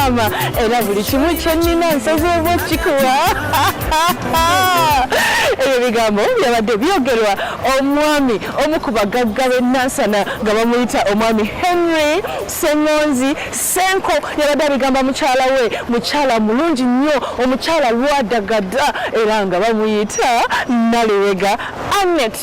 mama era buli kimu kyennina nsozi oba okikuwa ebyo bigambo byabadde byogerwa omwami omu ku bagagga b'e nansana nga bamuyita omwami henry sengonzi Senko yabadde abigamba mukyala we mukyala mulungi nnyo omukyala lwadagada era nga bamuyita nalewega anet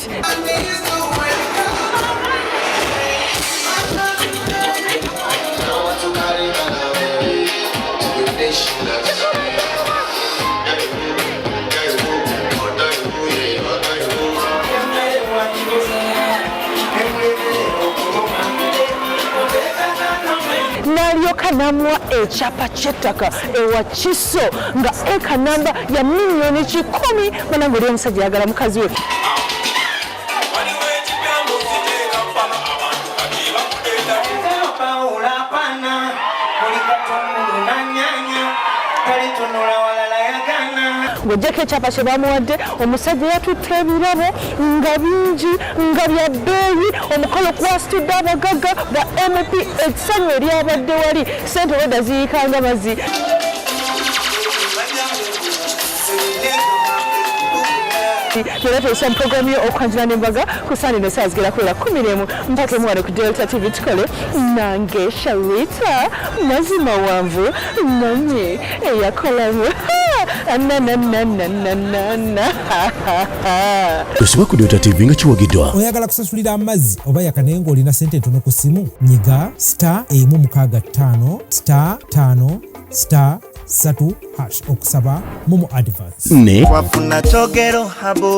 namuwa ekyapa kyettaka ewa kiso nga eka namba ya miliyoni kikumi banange oli omusajja yagala mukazi we ng'ogyeko ekyapa kye bamuwadde omusajja yatutte ebirabo nga bingi nga bya bbeeyi omukolo kwasitudde abagagga ba mp ekisanyu eryabadde wali sente weda ziyikanga mazi era tuesa mu puroguramu yo okwanjula n'embaga ku sande ne saazi gera kuwera kumi n'emu mpaka emu wano ku delta tv tukole nange sharita mazima wanvu nanye eyakolamu nanananananana Tosubwa ku Dota TV nga kiwagiddwa. Oyagala kusasulira amazzi oba yakanaye ng'olina sente entono ku ssimu? Nyiga star emu mukaaga ttaano star ttaano star satu hash okusaba mumu advance. Ne. Wafuna chogero habo.